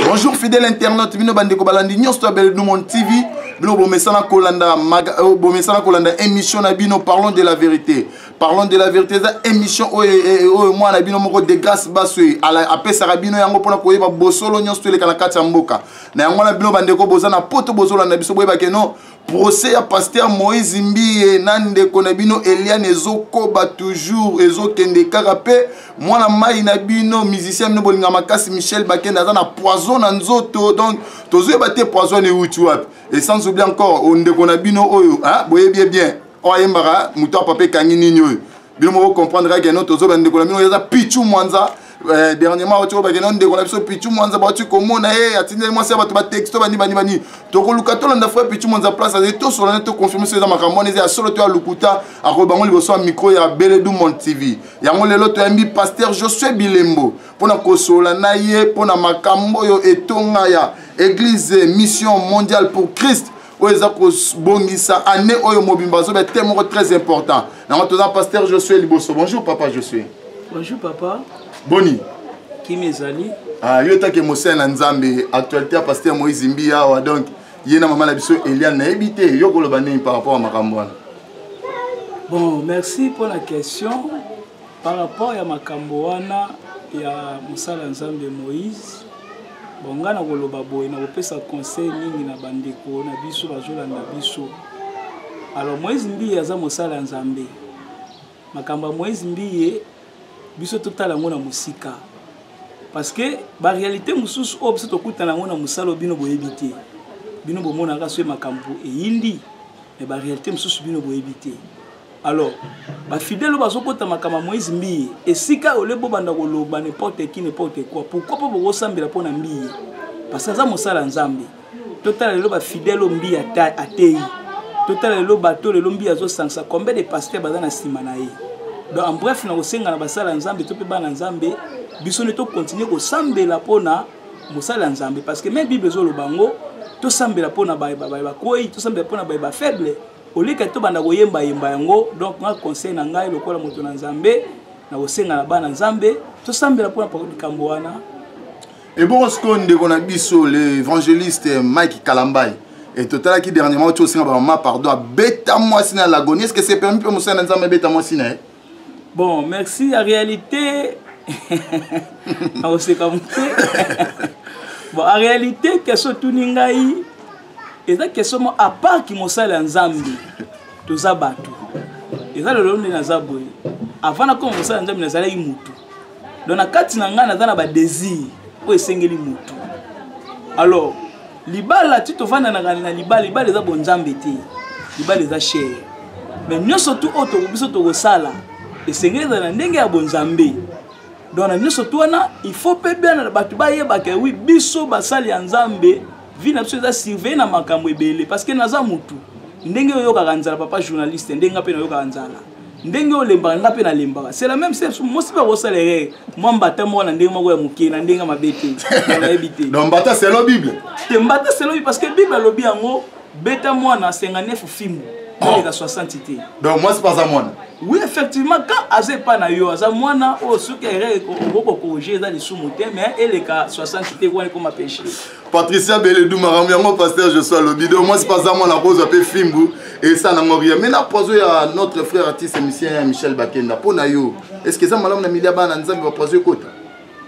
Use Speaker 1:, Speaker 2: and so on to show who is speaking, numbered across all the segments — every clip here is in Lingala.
Speaker 1: bonjour fidèle internaute bino bandeko balandi nyonso ya beledumon tv bino bomesana kolanda euh, bomesana kolanda émission na bino parlons de la vérité parlons de la vérité eza émission oyo eh, eh, oyo mwana na bino moko de grâce baso apesaka bino yango mpona koyeba bosolo nyonso toleka na kati ya mboka na yango wana bino bandeko boza na poto bozolanda biso boyebake no procès ya pasteur moïse mbiye na ndeko na bino eliane ezokoba toujours ezokende kaka mpe mwana mai na bino musicien bino bolinga makasi michel bakende aza na poison na nzoto donc tozoyeba te poison euti wapi et sans oublie encore ndeko na bino oyo boyebi ye bien oyo ayembaka moto ya papa ekangi nini oyo bino moko comprendre kaka no tozobela ndeko na bino eza pichu mwanza eh, dernièrement bauti kobake no ndeko na biso pichu mwanza bauti komona ye eh, atindeli mwasi ya bato batexto bani bani bani tokoluka tolanda frère pichu mwanza place azali tosolana toconfirme so eza makambo wana eza ya solo to ya lokuta akoyi bango liboso ya micro ya beledu mon tv yango lelo toyambi paster josue bilembo mpo na kosola na ye mpo na makambo oyo etonga ya église mission mondiale pour christ oyo eza kobongisa année oyo mobimba azoba te moko très important yango toza pasteur josue liboso bonjour papa josue bonjour papa
Speaker 2: boni
Speaker 1: kimi
Speaker 2: ezali ah, yo etake
Speaker 1: mosali na nzambe actualité ya pasteur moïse mbi awa donc ye na mama na biso eliane nayebi te yo koloba nini par rapport ya makambo wana
Speaker 2: bon merci mpo na question Par rapport ya makambo wana ya mosala Nzambe Moïse, bon ngai nakoloba boye nakopesa conseil mingi na bandeko na biso bazolanda biso. Alors Moïse Mbiye aza mosala ya Nzambe. Makambo ya Moïse Mbiye biso totala yango na mosika. Parce que ba réalité mosusu oyo biso tokutana yango na mosala bino boyebi te. Bino bomonaka soki makambo eyindi mais ba réalité mosusu bino boyebi te. alors bafidele oyo bazokota makama moïse mbiye esika ole bobanda koloba n'importe qui n'importe quoi pourquoi mpo bokosambela mpo na mbiye parce aza mosala ya nzambe totala lelo bafidele oyo mbiye ateyi totala lelo bato lelo mbiye azosangisa combien de pasteur baza na nsima na ye donc en bref na kosenga na basala ya nzambe to mpe bana nzambe biso nde tokontinue kosambela mpo na mosala ya nzambe parce que me bible ezoloba yango tosambela mpo na baye bakwei tosambela mpo na baye bafaible olika to banda koyemba yemba yango donc nga conseil na ngai lokola moto na nzambe na kosenga na bana nzambe tosambela mpona likambo wana ebongo
Speaker 1: sikoyo ndeko na biso le évangéliste mike kalambai e totalaki dernièrement ti osenga bamama pardon abeta mwasi na lagoni est ce que c'est permis mpe mosali na nzambe abeta mwasi na ye eh? bon
Speaker 2: merci ya réalité nakoseka moke bon en réalité question etuni ngai eza question mo à part ki mosali ya nzambe toza bato eza lelo nde naza boye avant nakoma mosali ya nzambe nazalaki motu donc na kati na ngai naza na badésir oyo esengeli motu alors libala ti tovandanaka na libala libala eza bonzambe te libala eza chere mais nyonso tu oyo toko biso tokosala esengeli ezala na ndenge ya bonzambe donc na nyonso tu wana il faut mpe bana bato bayebaka wi biso basali ya nzambe vie na biso eza surveille na makambo ebele parce que naza motu ndenge oyokaka nzala papa journaliste ndenge mpe nayokaka nzala ndenge olembaka nga mpe nalembaka c'est la même chose mosi mpe akosala erreur mwa mbata moko na ndenge moko ya moke na ndenge mabe te nayebi te donc mbata selo bible
Speaker 1: te mbata selo bible
Speaker 2: parce que bible alobi yango beta mwana 59 fimbu koleka 60 te donc mwasi mpe aza mwana
Speaker 1: oui effectivement
Speaker 2: quand aza epai na yo aza mwana oyo soki erreur okoki kokorige eza lisumu te mais eleka 60 te wana ekoma péché patricia beledu
Speaker 1: makambo yango paster josua lobi do mwasi paza mwana kozwa mpe fimbu esa nango ria mai na poiso ya notre frère artiste musien ya michel bakenda mpo na yo estce eza malamu na milia bana nzambe bapoiso ekota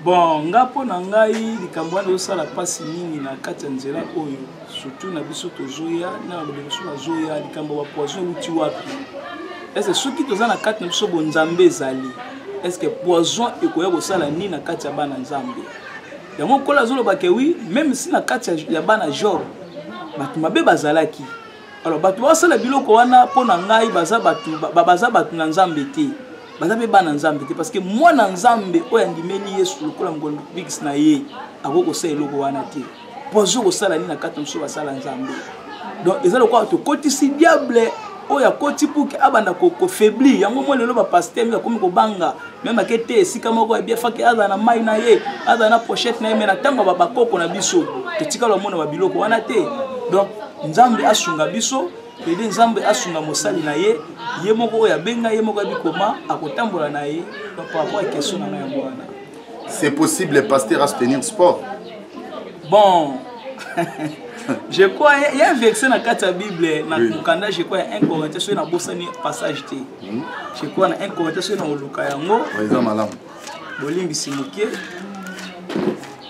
Speaker 1: bon nga
Speaker 2: mpo na ngai likambo wana ezosala mpasi mingi na kati ya nzela oyo surtout na biso tozoya na balobi biso bazoya likambo ya bapoison euti wapi ese soki toza na kati na biso bonzambe ezali eske poison ekoya kosala nini na kati ya bana nzambe yango nkola azoloba ke wi meme si na kati ya bana job bato mabe bazalaki alors bato basala biloko wana mpo na ngai baza bato baza bato na nzambe te baza mpe bana nzambe te parce que mwana nzambe oyo andimeli yesu lokola mokolobikisi na ye akoki kosala eloko wana te mpo azo kosala nini na kati na mosusu basala nzambe donc eza lokola tokotisi diable oyo akoti puki abanda kofaiblir yango mwa lelo bapaster mingi akomi kobanga meme ake te esika moko ebia faki azala na mai na ye azala na pochette na ye mai na ntango ya bakoko na biso totikala omona babiloko wana te donc nzambe asunga biso pede nzambe asunga mosali na ye ye moko oyo abenga ye moko abikoma akotambola na ye par rapport ya question
Speaker 1: na ngai
Speaker 2: yango wana
Speaker 1: c'est possible
Speaker 2: pasteur
Speaker 1: a soutenir
Speaker 2: sport bon je crois il y a un verset na kati ya bible na mokanda je crois ya 1 corinthiens soki nabosani passage te hmm. je crois na 1 corinthiens soki nakoluka yango eza malamu bolimbisi moke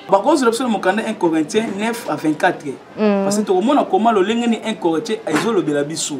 Speaker 2: bakozela biso na mokanda 1 corinthiens 9 à 24 hmm. parce que tokomona koma lolenge ni 1 corinthiens ezolobela biso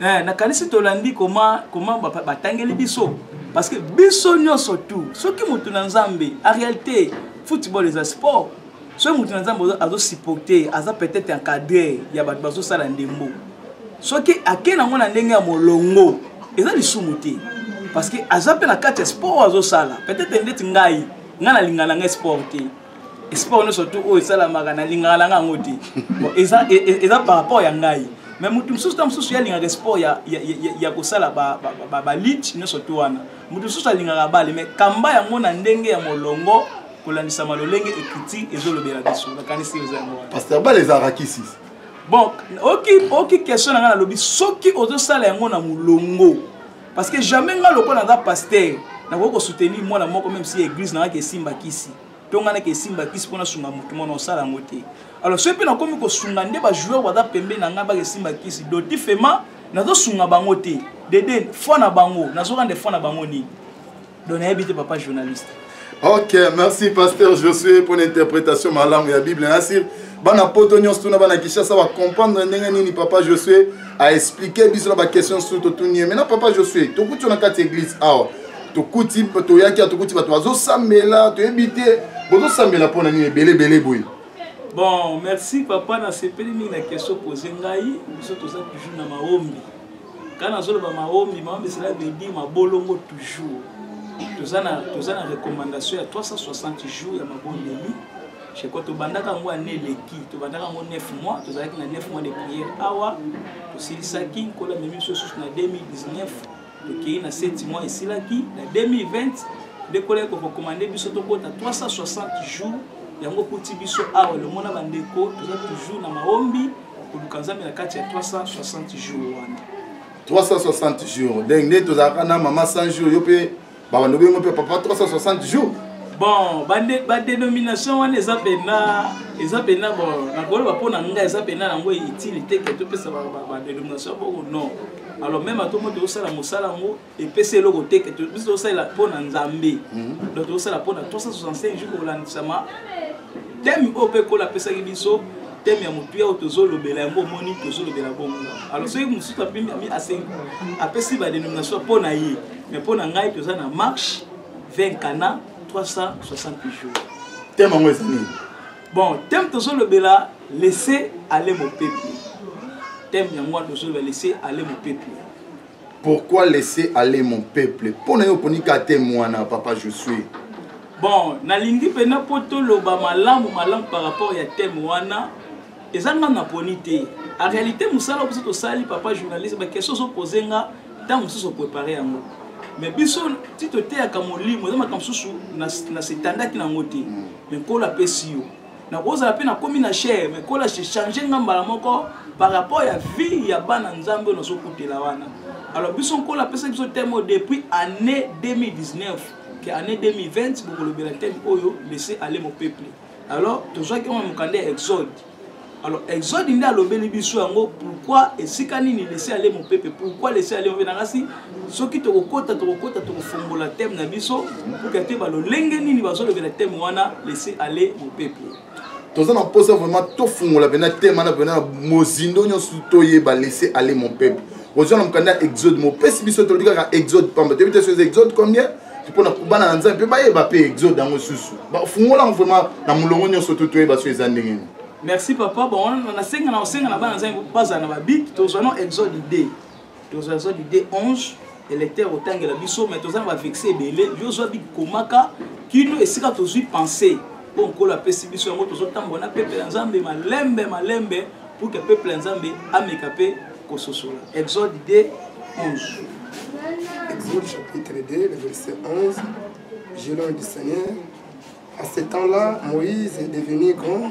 Speaker 2: eh, nakanisi tolandi koma koma batangeli biso parce que biso nyonso tout soki motu na nzambe en réalité football eza sport soki motu na nzambe azosupporte aza peut-être encadre ya bato bazosala ndembo soki ake nango na ndenge ya molongo eza lisumu te parce que aza mpe na kati ya sport azosala peut-être ndeti ngai ngai nalingana ngai sport te sport nyonso tu oyo esalamaka nalingaka nanga yango te eza e, e, eza par rapport ya ngai mais moto mosusu ntango mosusu ye alingaka sport ya, ya, ya, ya kosala balite nyonso tu wana moto mosusu alingaka bale mais kamba yango na ndenge ya molongo kolandisama lolenge ekiti ezolobela biso nakanisi eza yango wana paster bale ezalaka
Speaker 1: kisi bon
Speaker 2: oki oki question na ngai nalobi soki ozosala yango na molongo parce que jamais nga lokola naza pasteur nakoki kosoutenir mwana moko meme si église nanga kesimba kisi to ngai nake esimba kisi mpo nasunga motu mona osala yango te alors soki mpe nakomi kosunga nde bajoueur baza pembe na ngai baka esimba kisi doti fema nazosunga bango te dede foi na bango nazokande foi na bango nini donc nayebi te papa journaliste ok
Speaker 1: merci pasteur josué mpo na interprétation malamu ya bible nasir bana poto nyonso tuna bana kinshasa bacomprendre ndenge nini papa josué aexplike biso na baquestion susu totuni ye maintenant papa josué tokuti yo na kati ya église awa tokuti toyaki ya tokuti bato bazosambela toyebi te bozosambela mpo na nini ebele ebele boye bon
Speaker 2: merci papa nasepeli mingi na question pose ngai biso toza toujours na maombi Quand nazoloba maombi, maombi cela veut dire mabolongo toujours. Toza na toza na recommandation ya 360 jours ya mabondeli. Je crois tobandaka yango ane eleki, tobandaka yango 9 mois, tozalaki na 9 mois de prière awa, tosilisaki nkolo amemi biso susu na 2019, tokei na 7 mois esilaki, na 2020 nde nkolo ayaki korekomande biso tokota 360 jours yango kuti biso awa lomona bandeko toza toujours na maombi koluka nzambe na kati ya 360 jours wana
Speaker 1: 360 jours ndenge nde tozalaka na mama 100 jours yo mpe babanda obengo mpe papa 360 jours bon
Speaker 2: badénomination ba wana eza mpena eza mpena bon nakoloba mpo na ngai eza mpena yango itile te ke topesa badénomination bongo non alors meme atomo tozosala mosala yango epesi eloko te ke biso tosalela mpo na nzambe mhm. donc tozosala mpo na 365 jour kolandisama teme oyo mpe kola apesaki biso teme ya motuya oyo tozolobela yango omoni tozolobela bongo alo soki mosusu apesi badenomination mpo na ye mais mpo na ngai toza na marche 20 kana 360 jours teme yango eza
Speaker 1: nini bon teme
Speaker 2: tozolobela laisse ale mopepe teme yango wana tozolobela laisse ale mopepe pourquoi
Speaker 1: laisser aller mon peuple mpo na yo oponi ka te mwana papa je suis bon
Speaker 2: nalingi mpena mpo toloba malamu malamu par rapport ya teme wana eza nga naponi te en réalité mosala oyo biso tosali papa journaliste baquestion ozopose nga ntango mosusu oprépare yango mais biso ti toteyaka molimo eza makambo mosusu na setandaki na yango te mais nkolo apesi yo nakozala mpe nakomi na chair mais kola change nga mbala moko par rapport ya vie ya bana nzambe oyo nazokutela wana alors biso nkola apesaki biso teme oyo depuis année 2019 ke année 2020 bokolobela teme oyo laisse aller mon peuple alors tozwaki yango na mokanda ya exode alors exode nde alobeli biso yango pourquoi esika nini laisse aller mon peuple pourquoi laisse aller nanga si soki tokokota tokokota tokofongola teme na biso mpoka te balolenge nini bazolobela teme wana laisse aller mon peuple toza na mposa
Speaker 1: vraiment tofungola mpena teme wana mpena mozindo nyonso toyeba laisse aller mon peuple ozwa na mokanda ya exode mopesi biso tolobi kaka exode pamba toyebi te soki exode combien mpona bana na nzambe mpe bayeba mpe exode yango susu bafungola yango vraiment na molongo nyonso to toyeba so eza ndenge nini merci papa
Speaker 2: bon nasenga na osenga na bana nzambe bazala na babik tozwa no exode 2 tozwa zwa lide 11 électeur otangela biso mais toza na bavexe ebele yo zwa bikomaka kino esika tozwi pensé mpo nkolo apesi biso yango tozotambola na peuple ya nzambe malembe malembe pour que peuple ya nzambe ameka mpe kososola exode 2 11 Exode
Speaker 3: chapitre 2, le verset 11. Je l'ai du Seigneur. À ce temps-là, Moïse est devenu grand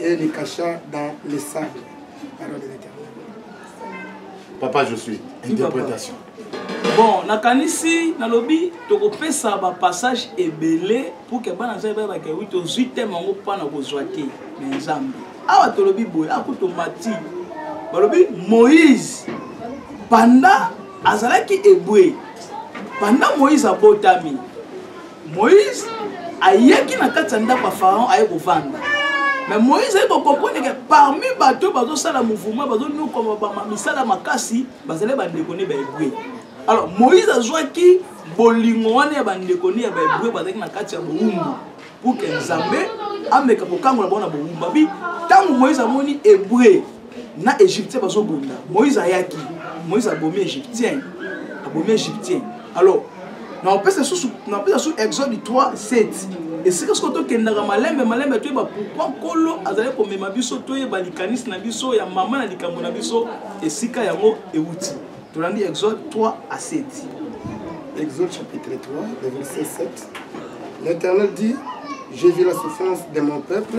Speaker 3: et les cachats dans les sables. Parole de l'éternel.
Speaker 1: Papa, je suis. Interprétation. bon
Speaker 2: nakanisi nalobi tokopesa bapassage ebele pour ke bana nzambe bayebaka wi tozwi teme yango mpo na kozwa te na nzambe awa tolobi boye akuto mati balobi moïse banda azalaki ebwe banda moïse abotami moïse ayaki na kati ya ndako ya pharaon aye kovanda mais moïse aye kokomprendre ke parmi bato oyo bazosala mouvement bazonokoma misala makasi bazali bandeko ne baebre alors moïse azwaki bolingo wana ya bandeko ne ya baebre bazalaki na kati ya bowumbu pour ke nzambe ameka kokangola bango na bowumbabi ntango moïse amoni ebre na égyptien bazobunda moïse ayaki moïse abomi égyptien abomi égyptien alors nakopesa susu napesa susu exode 3 7 esika soko tokendaka malembe malembe toyeba pourkui nkolo azali komema biso toyeba likanisi na biso ya mama na likambo na biso esika yango euti tolandi exode 3 à 7 exode chapitre 3
Speaker 3: le verset 7 l'éternel dit j'ai vu la souffrance de mon peuple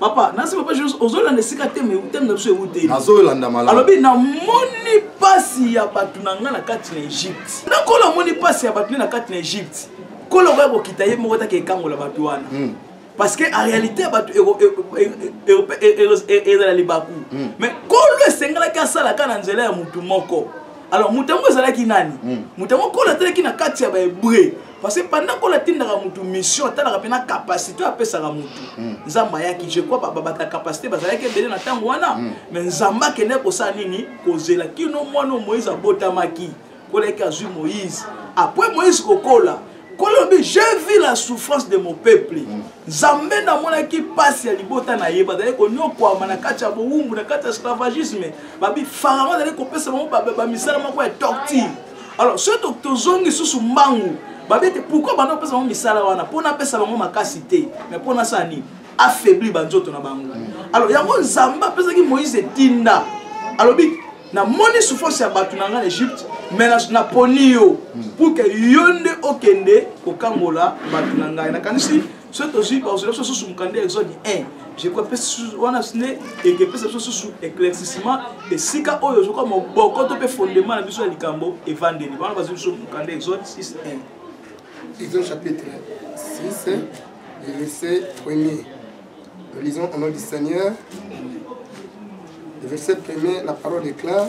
Speaker 2: papa nasi papa jos ozolanda esika teme teme na biso ewute nazolanda malamu alobi
Speaker 1: namoni
Speaker 2: mpasi ya bato na ngai na kati na egypte nakolo amoni mpasi ya bato ne na kati na egypte kolo okoya kokita ye moko take ekangola bato wana hmm. parce que en réalité bato ezala libaku hmm. mais kolo esengelaki asalaka na nzela ya motu moko alors moto yango ezalaki nani hmm. moto yango kolo atalaki na kati ya bahebreu parce que pendant qu'on atindaka mutu mission atalaka mpe na capacité oyo apesaka mutu hmm. nzambe ayaki je crois bato ya capacité bazalaki ebele na ntango wana hmm. mais nzambe akendaki kosala nini kozela kino mwana oyo moïse abotamaki kolaki azwi moïse après moïse kokola kolobi je vis la souffrance de mon peuple hmm. nzambe namonaki mpasi ya libota na ye bazali konyokwama na kati ya bowumbu na kati ya esclavagisme babi farao azali kopesa bango bamisala moko ya torture alors soki tozongi lisusu mbangu babete pourkui banda kopesa bango misala wana mpo napesa bango makasi te mais mpo nasala nini affaibli banzoto na bango alors yango nzambe apesaki moïse etinda alobi namoni souffrance ya bato na ngai na egypte mais naponi yo pour ke yo nde okende kokangola bato na ngai nakanisi soki tozwi bazwela biso susu mokanda ya exode 1 wana nde ekepesa biso susu éclaircissement esika oyo ezoka moboko to mpe fondement na biso ya likambo evandeli wana bazwi biso mokanda ya exode 6 1 exode
Speaker 3: chapitre 6 verset 1er nous lisons au nom du seigneur le verset 1er la parole déclare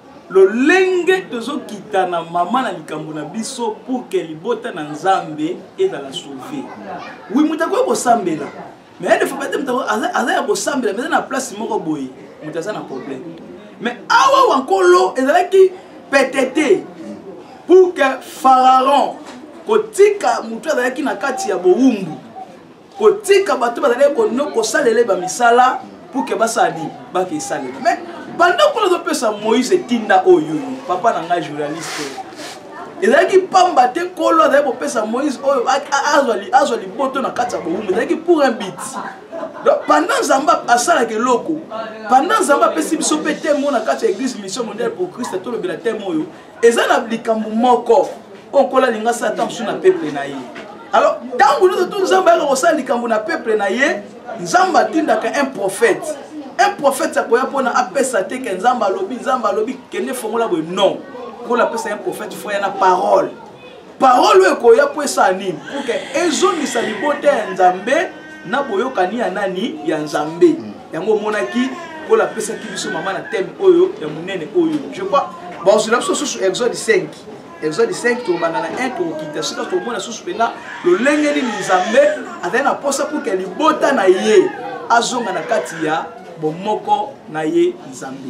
Speaker 2: lolenge tozokita na mama na likambo na biso pour ke libota na nzambe ezala sauve wi moto akoki kosambela mais ya defa bate moto aza ya kosambela mais eza na place moko boye moto aza na problème mais awa wa nkolo ezalaki petete pour ke pharaon kotika moto azalaki na kati ya bowumbu kotika bato bazalaki kono kosalela ye bamisala pour ke basala nini bake esalela mais banda kuna azopesa moïse etinda oyo papa na ngai journaliste ezalaki mpamba te nkolo azali kopesa moïse oyo azwa liboto na kati ya bowumbu ezalaki pour un bit donc pendant nzambe asalaka eloko pendant nzambe apesi biso mpe temo na kati ya église mission mondiale pour christ tolobela temo oyo eza na likambo moko oyo nkolo alinga asala ntango mosusu na peple na ye alors ntango nyonso tu nzambe ayaka kosala likambo na peple na ye nzambe atindaka un prophète un prophète akoya mpona apesa te ke nzambe alobi nzambe alobi kende fongola boye non nkolo apesa un prophète fo ya na parole parole oyo ekoya mpo esala nini puke ezongisa libota ya nzambe na boyokani ya nani ya nzambe mm. yango omonaki oyo apesaki biso mama na teme oyo ya monene oyo je crois bazozela biso susu exode 5 exode 5 tokobanda na 1 tokokita sika tokomona susu mpenza lolenge nini nzambe azali na mposa puke libota na ye azonga na kati ya bomoko na ye nzambe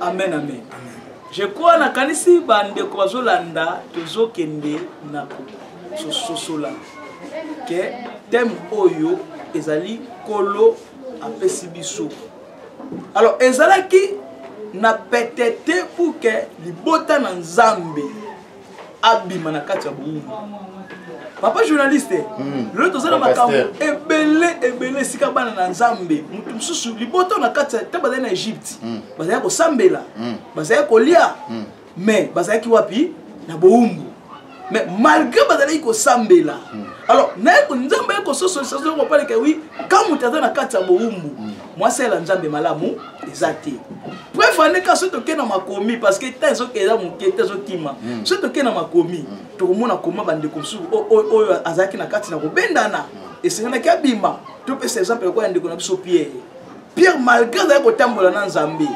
Speaker 2: amen amen je crois nakanisi bandeko bazolanda tozokende na kososola ke teme oyo ezali kolo apesi biso alors ezalaki na pete te pour ke libota na nzambe abima na kati ya boumbu papa journaliste hmm. lelo toza na makambo ebele ebele esika bana na nzambe moto mosusu liboto na kati te bazali na egypte hmm. bazalaki kosambela hmm. bazalaki kolia mais bazalaki wapi na boumbu mais malgré bazalaki kosambela alors naye nzambe aye kososolisa zokopalikawii ka moto aza na kati ya boumbu mwasi ayela nzambe malamu eza te preuve ane ka soki tokei na makomi parce que temps ezoke eza moke te ezokima mm. soki tokei na makomi mm. tokomona koma bandeko mosusu oyo azalaki na kati na kobendana mm. esenganaki abima topesa exemple lokola ya ndeko na biso pierre pierre malgré azalaki kotambola na nzambe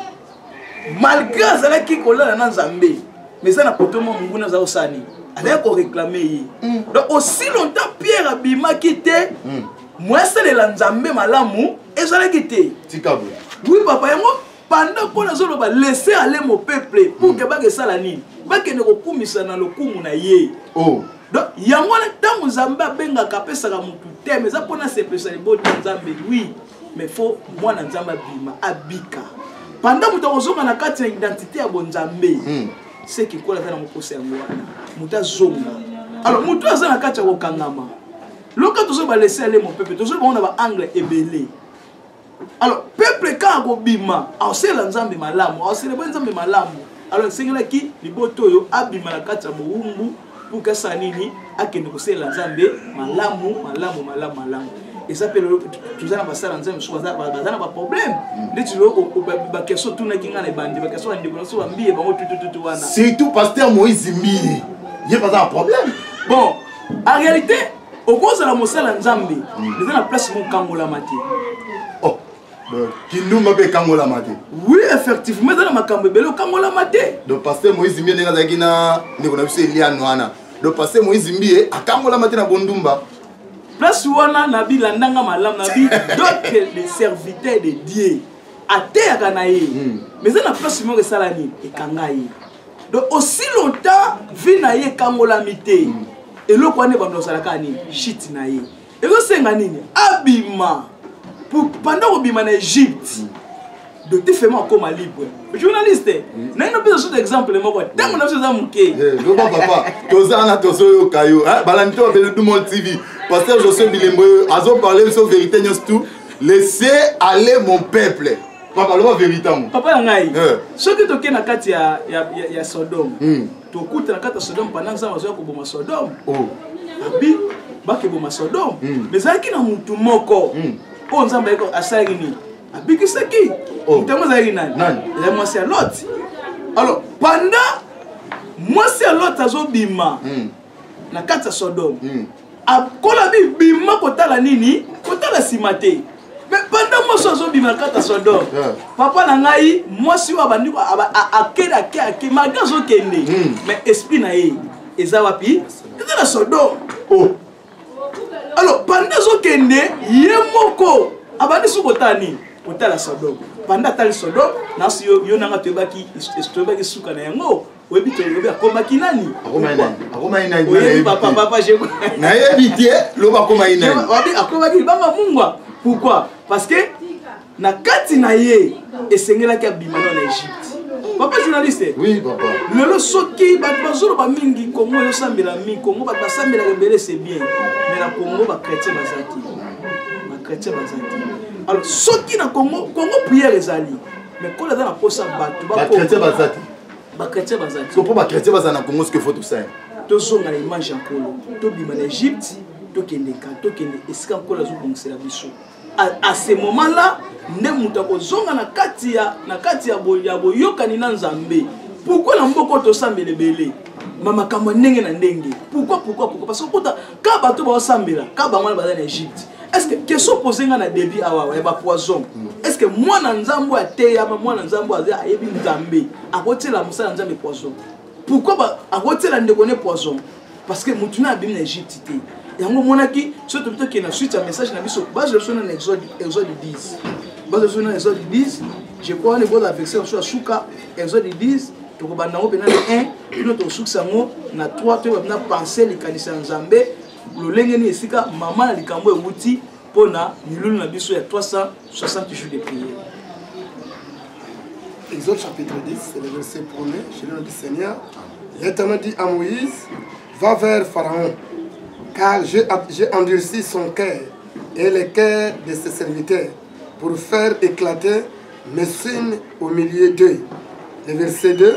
Speaker 2: malgré azalaki kolala na nzambe mais eza na poto mwa monguna aza kosala nini azalaki koreklame ye donc aussi longtemps pierre abimaki te moya salela nzambe malamu ezalaki te tika boye oui
Speaker 1: papa yango
Speaker 2: panda mpo nazoloba laisse aller mo peuple pour ke hmm. baka esala nini bakende kokumisa na lokumu na ye oh. donc
Speaker 1: yango wana
Speaker 2: ntango nzambe abengaka apesaka motu teme eza mpona asepesa libota nzambe wi mais fo mwana nzambe abima abika panda moto akozonga na kati ya identité ya bonzambe hmm. seki nkola aza na mokosa yango wana moto azonga alors moto aza na kati ya kokangama loka tozoi balese ale mo peuple tozoi bango na baangle ebele alors peuple kaka akobima aosela nzambe malamu aoselebwe nzambe malamu alors esengelaki libota oyo abima na kati ya mowumbu mpo kasala nini akende kosalela nzambe malamu malamu malamu malamu eza mpe lelo toza na basala nzambe mosusu baza na baproblème mm. ndeti lelo bakeso tunaki ngai na ebandi bakeso bandeko na biso bambiye bango tutututu wana surtout paster
Speaker 1: moïse mbiye ye baza na problème bon
Speaker 2: en réalité okozala mosala nzambe hmm. eza na place mokangolama te oh,
Speaker 1: kindumba mpe ekangolama te oui effectivement
Speaker 2: eza na makambo ebele okangolama te donc paster moïse mbie
Speaker 1: ndenge azalaki na ndeko na biso eliane wana donc paster moïse mbie akangolama te na bondumba place
Speaker 2: wana nabi landanga malamu nabi doke de serviteur de dieu ateyaka na ye hmm. mais eza na place moko esala nini ekanga ye donc aussi longtemps vie na ye ekangolami te mm. eloko wana ebanda ozalaka nini shit na ye ezosenga nini abima pendant kobima na egypte mm. donc te fema akoma libre journaliste mm. naino mpe osuta exemple moko ntango na biso eza moke eh, loba papa
Speaker 1: tozana tozoyoka yo eh, balandi to babele dumol tv paster josue bilembo yo azoparle biso verité nyonso tout laissez aller mon peuple papa loba verité yango papa ya ngai eh.
Speaker 2: soki toke na kati ya, ya, ya, ya sodome mm. tokuta na kati ya sodome panda nzambe azoya koboma sodome oh. abi bakeboma sodome mm. ezalaki na motu moko mm. oyo nzambe ayeko asalaki nini abikisaki oh. motango oh. ezalaki nani ezali mwasi ya loti alors panda mwasi ya loti azobima mm. na kati ya sodome mm. akola bibima kotala nini kotala nsima te me banda mwasi azobima kata sodor papa na ngai mwasi oyo abandi akende ake ake malgre azokende hmm. me esprit na ye eza wapi eza na sodor oh. alors banda azokende ye moko abandi soki kotala nini kotala sodor banda atali sodor nasi yo nanga toyebaki suka na yango oyebi tolobi akomaki nani nayebi te
Speaker 1: loba akomaki naniakomaki libanga
Speaker 2: mungwa pourquoi parce que na kati na ye esengelaki abima na na egypte papa journaliste oui, papa. lelo
Speaker 1: soki
Speaker 2: bato bazoloba mingi kongo eyosambela mingi kongo bato basambelaka ebele se bien mais na kongo bachrétien baza te bachrétien baza te alors soki na kongo kongo prière ezali mais kola aza na mposa bato bakochrétien baza te
Speaker 1: bakretien
Speaker 2: baza so mpo bakretien baza na
Speaker 1: congo soki fo tosala tozonga na
Speaker 2: image ya nkolo tobima na egypte tokende ka tokende esika nkolo azobongisela biso à ce moment là nde moto akozonga na kati ya na kati ya boyokani na nzambe pourkui na mboka oyo tosambela ebele ma makambo ya ndenge na ndenge pourkui pourkui pourkui parce que okota ka bato baosambela ka bango wana baza na egypte est ce que question pose nga na début awa ya bapoison mm. est ce que mwana nzambe ateyama mwana nzambe aza ayebi nzambe akotiela mosala ya nzambe poison pourquoi akotiela ndeko ne poison parce que motu na abimi na egypte te yango omonaki soki tobi tokende na suite ya message na biso bazwa biso nana exode 10 bazwa biso nana exode 10 je crois wana eboza verse biso ya suka exode 10 tokobanda yango mpenza na 1 bino tokosukisa yango na 3 toyeba mpena pense likanisi ya nzambe lolenge nini esika mama na likambo ewuti mpo na milulu na biso ya 360 jours de prière
Speaker 3: Exode chapitre 10, c'est le verset 1er. Je le dis Seigneur, l'Éternel dit à Moïse, va vers Pharaon, car j'ai endurci son cœur et le cœur de ses serviteurs pour faire éclater mes signes au milieu d'eux. Le verset 2,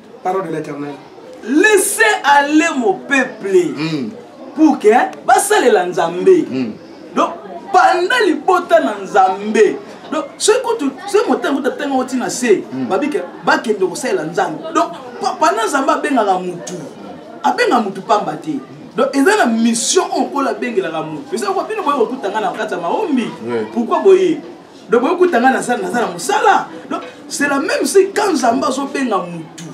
Speaker 3: parole de l'éternel laisse
Speaker 2: aller mon peuple mm. pour que basalela nzambe mm. donc banda libota na nzambe donc soki kutu soki motema kutu atanga oti na se hmm. babike bakende kosalela nzambe donc pana nzambe abengaka mutu abenga mutu pamba te donc eza na mission oyo nkolo abengelaka mutu eza kwa bino boye kokutanga na kati ya maombi pourkui boye donc boye kuta ngai naza naza na mosala donc c'est la même si quand nzambe azobenga mutu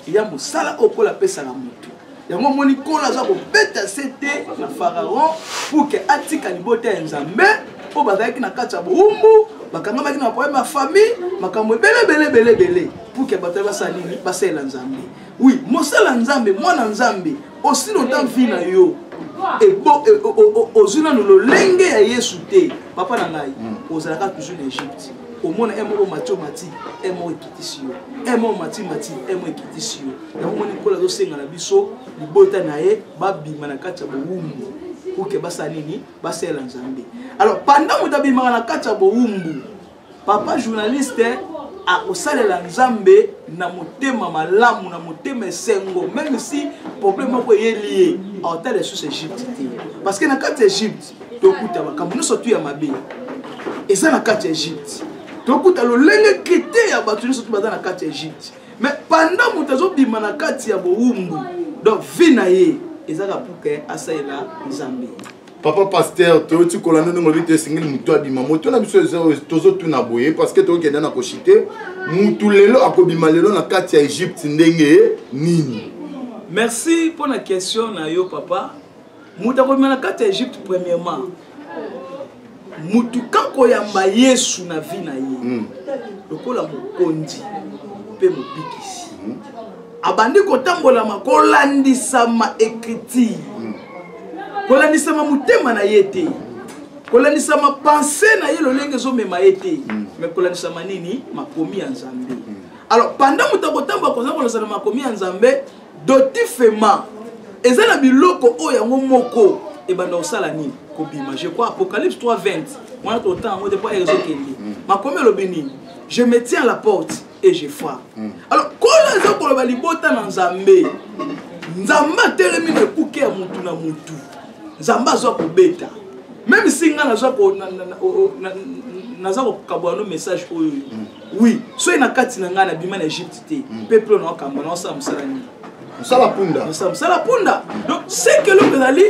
Speaker 2: ya mosala oyo kola apesaka mutu yango omoni kola aza kobeta se te na pharaon pour ke atika libota ya nzambe mpo bazalaki na kati ya bowumbu bakangamaki na problème ya famille makambo ebele ebele ebele ebele pour ke bato basala nini basalela nzambe oui mosala nzambe mwana nzambe osili ota vi na yo ozwi nanu lolenge ya yesu te papa na ngai hmm. ozalaka toujours na egypte omona e moko mati omati e moko ekitisi yo e moko mati mati e moko ekitisi yo yango moni nkolo azosenga na biso libota na ye babima na kati ya bowumbu pour ke basala nini basalela nzambe alors pendant moto abimaka na kati ya bowumbu papa journaliste akosalela nzambe na motema malamu na motema esengo meme si problème moko eyeli ye aotala lisusu egypte te parce que na kati ya egypte tokuta makambo nyonso tu ya mabe eza na kati ya egypte tokuta lolenge krite ya bato nyonso tu baza na kati ya egypte mais pendant moto azobima na kati ya bowumbu donc vie na ye ezaka puke asalela nzambe papa
Speaker 1: pasteur toyoti kolanda ndenge olobi te esengeli motu abima moto na biso tozotuna boye parce que tokokende na koshite motu lelo akobima lelo na kati ya egypte ndenge nini merci
Speaker 2: mpo na question na yo papa moto akobima na kati ya egypte premièrement motu kakoyamba yesu na vi na ye hmm. lokola mokonzi mpe mobikisi hmm. abandi kotambolama kolandisama ecriture hmm. kolandisama motema na ye te kolandisama pense na ye lolenge ezomema ye te hmm. me kolandisama nini makomi ya nzambe hmm. alors pendant moto akotambola koza kolandisana makomi ya nzambe dotifema eza na biloko oyo yango moko ebanda kosala nini kobima je crois apocalypse 3 20 wana totanga yango te mpo ezokende makomi elobi nini je me tiens la porte et je frappe mm. alors nkolo aza koloba libota na nzambe nzambe atelemi na ekuke ya motu na motu nzambe aza kobeta meme si ngai naza kokabola no message oyo oui soki na kati na ngai nabima na egypte te mpe mpe naokamba naosala mosala nini mosala punda
Speaker 1: mosala punda
Speaker 2: donc seke eloko ezali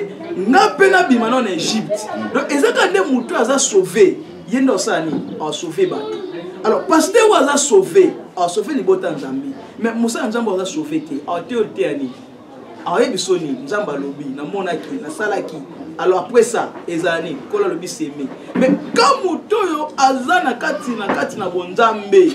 Speaker 2: nga mpe nabima nao na egypte donc eza kaka nde motu aza sauve ye nde osala nini asauve bato alors paster oyo aza sauve asauve libota nzambe mais mosala nzambe aza sauve te ateyo liteya nini ayebi so nini nzambe alobi namonaki nasalaki alors après ça ezala nini nkolo alobi seme mais ka moto oyo aza na kati na kati na bonzambe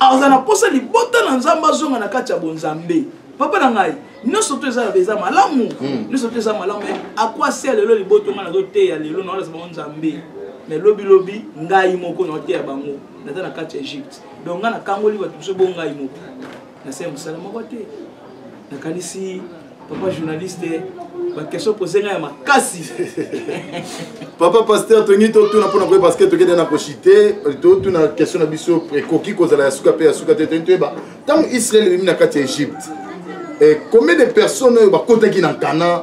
Speaker 2: aza na mposa libota na nzambe azonga na kati ya bonzambe papa na ngai nyonso to eza eza malamu hmm. nyonso to eza malamu akwasi ya lelo liboto ngai nazoteya lelo naolasa bango nzambe me lobilobi ngai moko naoteya bango naza na kati ya egypte donc ngai nakangoli bato biso bo ngai moko nasala mosala moko te nakanisi papa journaliste ba question pose nga ya makasi
Speaker 1: papa pasteur tongi totuna mpona koyeba parceke tokende na koshite totuna question na biso ekoki kozala ya suka mpe ya suka te tongi toyeba ntango israel ebimi na kati ya egypte eh, combien de personnes oyo bakotaki na nkana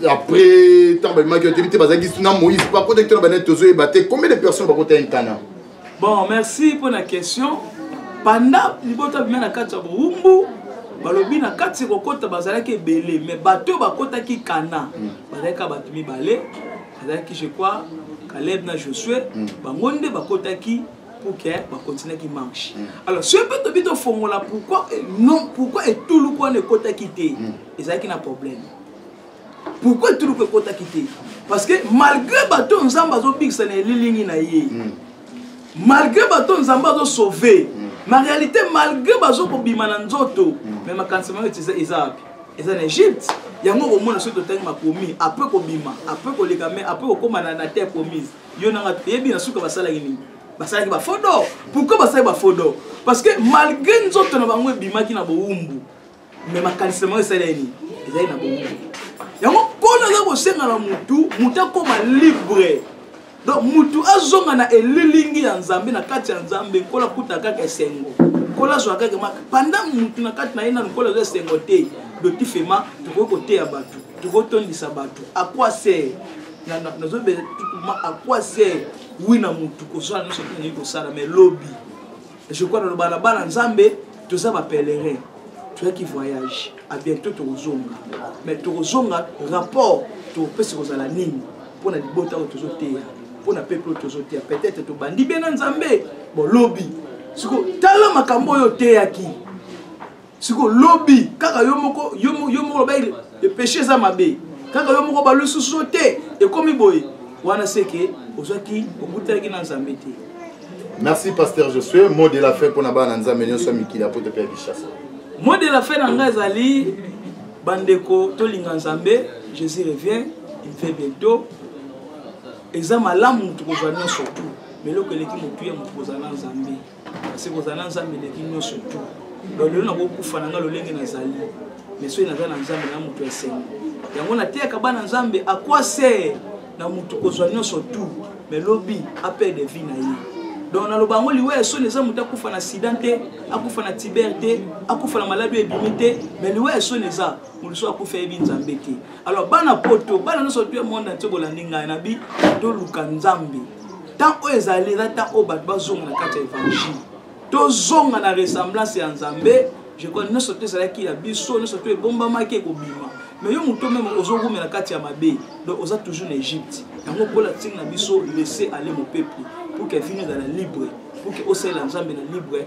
Speaker 1: après ntango babimaki otebi te bazalaki na moïse bakotaki tona banani tozoyeba te combien de personnes bakotaki nkana bon merci
Speaker 2: mpo na question panda libota bima na kati ya bowumbu balobi na kati ya kokota bazalaki ebele mais bato oyo bakotaki kana mm. bazalaki kaka bato mibale bazalaki je crois caleb na josue mm. bango nde bakotaki pour que bakontinaki marche mm. alors soki mpe tobi tofongola pourquoi eh, non pourquoi etuluku wana ekotaki te ezalaki na problème pourquoi etuluku ekotaki te parce que malgré bato nzambe azobikisa na elilingi na ye hmm. malgré bato nzambe azosauve hmm. na réalité malgré bazokobima na nzoto hmm. mais makanisi mayo eza eza wapi eza na egypte yango okomona soki totangi makomi apres kobima apres koleka mai apres kokóma na terre promise yo nanga toyebi na suka basalaki nini basalaki bafodo pourquoi basalaki bafodo parce que malgré nzoto na bango ebimaki na bowumbu me makalisama oyo esali ya nini ezali na bongo yango mpona aza kosenga na motu motu akoma libre donc motu azonga na elilingi ya nzambe na kati ya nzambe nkola kuta kaka esengo nkola azwa kaka maka panda motu na kati na ye nanu nkola azwa esengo te dotifema tokoki koteya bato tokoki tondisa bato akwase nazobela tutuma akwase wi na motu kozwa na nyonso te nalingi kosala mai lobi je crois naloba na bana nzambe toza ba pèlerin toyaki voyage a bientôt tokozonga mais tokozonga rapport topesi kozala nini mpo na libota oyo tozoteya mpo na peple oyo tozoteya peut-être tobandi bena nzambe bolobi siko tala makambo oyo oteyaki siko lobi kaka yo moko yo moko lobaki epeshe eza mabe kaka yo moko balususu te ekomi boye wana seke ozwaki okutanaki na nzambe te merci
Speaker 1: pasteur josue mot de la fin mpo na bana nzambe nyonso ya mikili apoto mpe ya kinshasa mot de la fin
Speaker 2: na ngai ezali bandeko tolinga nzambe jésus revient il fait bientôt eza malamu moto kozwa nyonso tu mais eloko eleki motuya moto kozala na nzambe kasi kozala na nzambe eleki nyonso tu donc lelo nakokufa na nga lolenge nazali mais soki naza na nzambe na moto ya esengo yango nateyaka bana nzambe akwase na moto kozwa nyonso tu mais lobi apede vie na ye donc naloba yango liwa ya soni eza moto akufa na sida te akufa na tiber te akufa na maladi oyo ebimi te mais liwa ya soni eza mosusu akufa yebi nzambe te alors bana poto bana nyonso tu monde ntie bolandi ngai nabi toluka nzambe ntango oyo ezali eza ntango oyo bato bazonga na kati ya évangile tozonga na ressemblance ya nzambe je crois nyonso to ezalaki ya biso nyonso to ebombamaki ekobima mais yo moto meme ozogumela na kati ya mabe donc oza toujours na egypte yango mpola ntina na biso laisse aller mon peuple pour que vino ezala libre pour que osalela nzambe na libre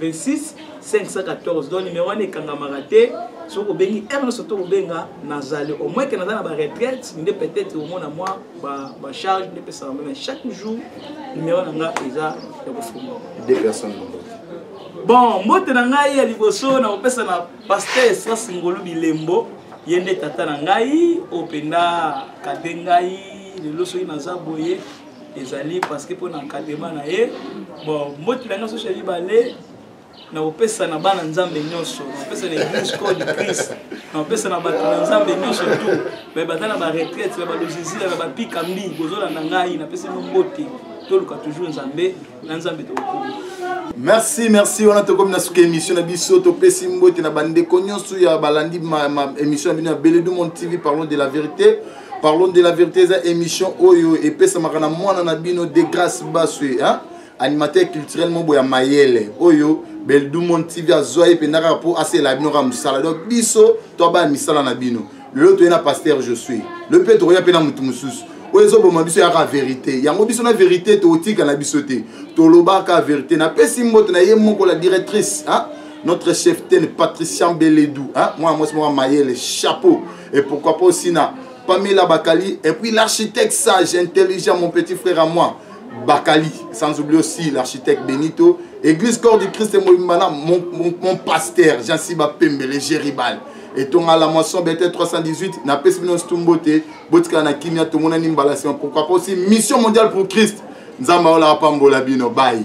Speaker 2: 26 514 donc numero wana ekangamaka te soki obengi heure nyonso to kobenga nazali au moins ke naza na baretraite nde peut-être omona mwa bacharge nde epesaka meme chaque jour numero na nga eza ya kofuma
Speaker 1: deux personnes bon
Speaker 2: mbote na ngai ya liboso na kopesa na paster esras ngolu bilembo ye nde tata na ngai oyo mpenza kade ngai lelo soki naza boye ezali parce que mpo na encadrement na ye bon mboti na ngai soso ya mibale nakopesa na bana nzambe nyonso nakopesa na eglise corps du christ nakopesa na bato na nzambe nyonso tu me baza na baretraite na balozizila na bapikambi bozolanda ngai napesi bino mbote toluka toujours nzambe na nzambe tokokomi
Speaker 1: merci merci wana tokomi na suka émission na biso topesi mbote na bandeko nyonso ya balandi émission na bino ya beledu mon tv parlons de la vérité parlons de la vérité eza émission oyo epesamaka na mwana na bino de grâce baswe hein? animateur culturel moko ya mayele oyo beldumon tv azwa ye mpenza kaka mpo asela bino kaka mosala donc biso toabaya misala na bino lelo toye na pasteur josue lelo mpe tokoya mpe na motu mosusu oyo ezoboma biso yaka verité yango biso na verité tokotika na biso te tolobaka verité napesi mbote na ye moko la directrice hein? notre cheftaine patrician beledou hein? mwana mwasi moko mayele chapeau et pourquoi pas aussi na pamela bakali et puis l'architecte sage intelligent mon petit frère à moi bakali sans oublier aussi l'architecte benito église corps du christ mobimbana mon, mon, mon pasteur jansiba pembele géribal etonga la moisson bete 318 napesi bino nsitu mbote botikala na kimia tomonani mbala nsima pourquoi pas aussi mission mondiale pour christ nzambe aola apambola bino bai